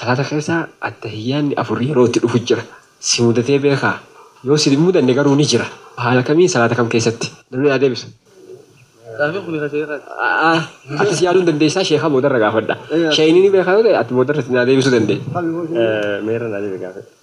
Salaata keessa attahiyyaanni afur yeroo itti dhufu jira. Si mudatee beekaa? Yoo si hin mudanne garuu ni jira. Haala kamiin salaata kam keessatti? Namni naa deebisu. Gaaffiin kuni ka sheekhaati. A'aa atis yaaluu hin dandeessaa sheekha boodarra gaafadha. Sheeyni ni beekaa yoo ta'e ati boodarra itti naa deebisuu dandeessa. Meerre naa deebi gaafadhu.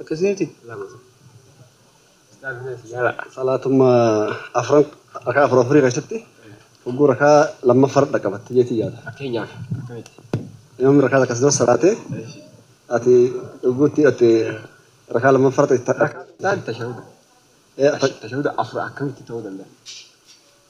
Akkasii miti? Salaatuma afran rakaa afur afurii keessatti hogguu rakaa lammaffaa irra dhaqqabatte jeetii yaada. Fakkeenyaaf akkamitti? Imaamni rakaa takka sirra salaate ati hogguu itti hidhatte rakaa lammaffaa irratti Rakaa isaan tashahuda. Tashahuda afur akkamitti ta'uu danda'a?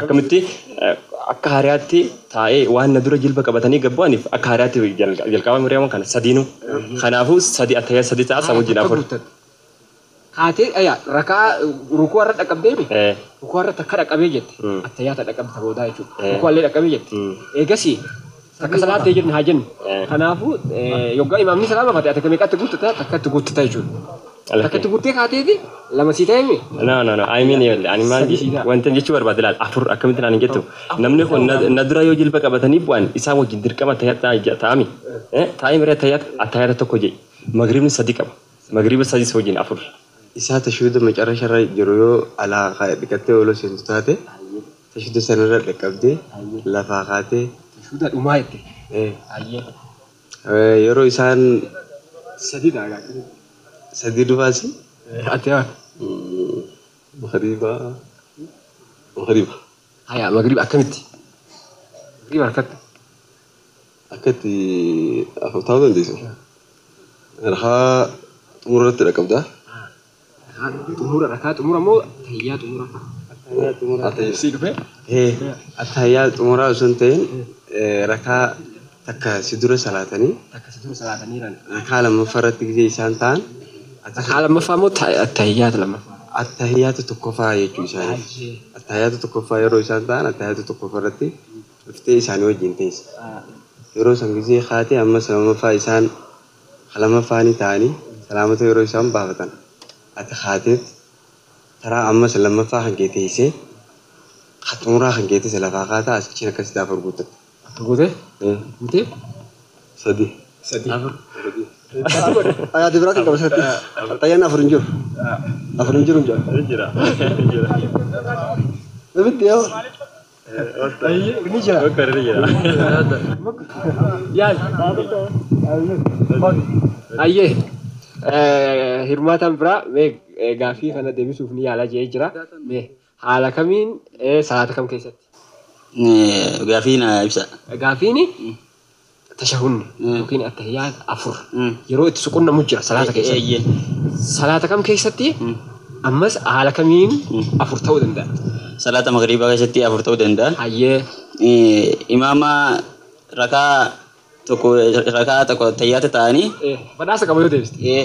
Akkamitti? Akka haariyaatti taa'ee waan na dura jilba qabatanii gad bu'aniif akka haariyaatti jalqabaa Miryaama kana sadiinuu. Kanaafuu sadi attayyaa sadi ta'a san wajjin afur. Kaatee ayaa raka'aa ruku'a irra dhaqqabdee mi? Ruku'a irra takka dhaqqabee jette attayyaa ta dhaqqabde ta boodaa jechuudha. Ruku'allee dhaqqabee jette. Eegasii Takka salaattee jenne haa jennu. Kanaafuu yoggaa imaamni salaamafate ati meeqatti guuttata takkatti guuttata jechuudha. Takkatti guuttee kaateeti lama sii ta'e mii? No no no I mean ijoollee ani maal wanti jechuu barbaade laal afur akkamitti naan hin jettu namni kun na dura yoo jilba qabatanii bu'an isaa wajjin dirqama taa'aa taa'ami taa'ee miree taa'aata attaayata tokko jedhi magribni sadi qaba magriba sadis wajjin afur. Isaa tashuuda macarasharra jiru yoo alaa dhiqattee oloo seentu taate. Tashuda sanirra dhaqqabdee lafaa kaatee. Tashuda dhumaa jette. Ee. Yeroo isaan. Sadii ta'a gaa akkamitti. Sadii dhufaa si. Ati haa. Magriba Magriba. Hayaa Magriba akkamitti. Magriba harkatti. Akkatti afur taa'uu dandeessu. Rakaa xumurarratti dhaqqabda. Xumura rakaa xumura moo tahiyyaa xumura? Attahiyyaa xumura. Attahiyyaa dhufe. Attahiyyaa xumuraa osoo hin ta'in rakaa takka si dura salaatanii. Takka si dura salaatanii ran. Rakaa lammaffaa irratti gisee isaan ta'an. Rakaa lammaffaa moo attahiyyaata lammaffaa? Attahiyyaata tokkoffaa jechuu isaanii. Attahiyyaata tokkoffaa yeroo isaan ta'an attahiyyaata tokkoffaa irratti dhuftee isaanii wajjin teessa. Yeroo san gisee kaatee ammas lammaffaa isaan Ka lammaffaanii ta'anii salaamata yeroo isaan baafatan ati kaateet taraa ammas lammaffaa kan kee teessee ka xumuraa kan keetis lafaa kaataa asii achiin akkasitti afur guuttatta. Afur gootee? Ee. Guutee? Sadi. Sadi. Afur. Sadi godhi. Ani adda biraatiin qaba sirratti. Qaxxayyaan afur hin jiru. Afur hin jiru hin jedhu. Ni jira. Ni jira. Namni itti yaa'u. Ni jira. Doktar ni jira. Yaal. Ayyee. Hirmaataan biraa mee gaaffii kana deebisuuf ni yaala jedhee jira. Mee haala kamiin salaata kam keessatti? Gaaffii na ibsa. Gaaffiin tashahunni yookiin attahiyyaat afur yeroo itti suqunnamu jira salaata keessatti. Eeyyee. Salaata kam keessatti ammas haala kamiin afur ta'uu danda'a? Salaata magriibaa keessatti afur ta'uu danda'a. Hayyee. Eh, Imaama rakaa tokko rakaa tokko tayyaata ta'anii Eh, badhaasa qaba yoo deebiste. eh,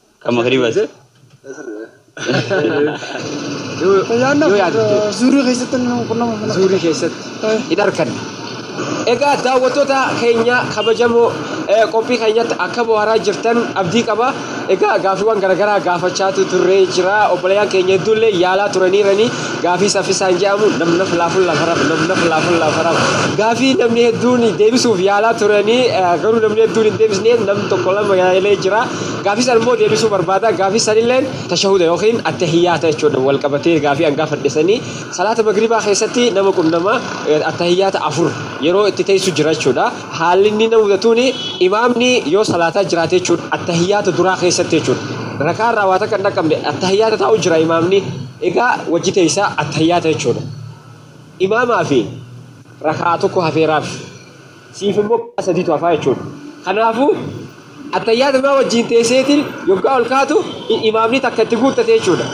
Kan magriibas. Yoo Ayyaanaaf yaadde zuurii keessatti nama qunnama mana. zuurii keessatti Eh. hin arkanne. Egaa daawwattoota keenya kabajamoo eh, qophii keenyatti akka bohaaraa jirtan abdii qaba. Egaa gaaffiiwwan garaagaraa gaafachaatu turree jira. Obboleeyyan keenya hedduullee yaalaa turaniiranii gaaffii saffisaan jedhamu namna filaafuun lafaraf namna filaafuun lafaraf gaaffii namni hedduun deebisuuf yaalaa turanii eh, garuu namni hedduun hin deebisne namni tokko lama yaalee jira. Gaafii san immoo deebisuu barbaada. Gaafii san illeen tashahuda yookiin attahiyyaata jechuudha. Wal qabatee gaafii an gaafadhe sanii. Salaata magribaa keessatti nama qunnama attahiyyaata afur yeroo itti teessu jira jechuudha. Haalli inni nama mudatuuni imaamni yoo salaataa jiraate jechuudha. Attahiyyaata duraa keessatti jechuudha. Rakaa irraa waa takka hin dhaqqabne attahiyyaata taa'u jira imaamni. Egaa wajji teessa attahiyyaata jechuudha. Imaamaa fi raka'aa tokko hafeeraaf. siif immoo karaa sadiitu hafaa jechuudha. Kanaafuu, Attayyaatumaa wajjiin teesseetiin yoggaa ol kaatu imaamni takka itti guuttate jechuudha.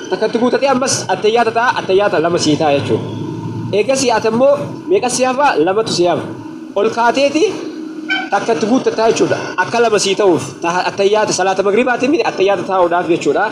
Takka itti guuttatee ammas attayyaata ta'a, attayyaata lama sii ta'a jechuudha. Eegasii ati ammoo meeqa si hafa? Lamatu si hafa. Ol kaateeti takka itti guuttattaa jechuudha. Akka lama sii ta'uuf, ta attayyaata salaata magribaatiin miti attayyaata taa'uudhaaf jechuudha.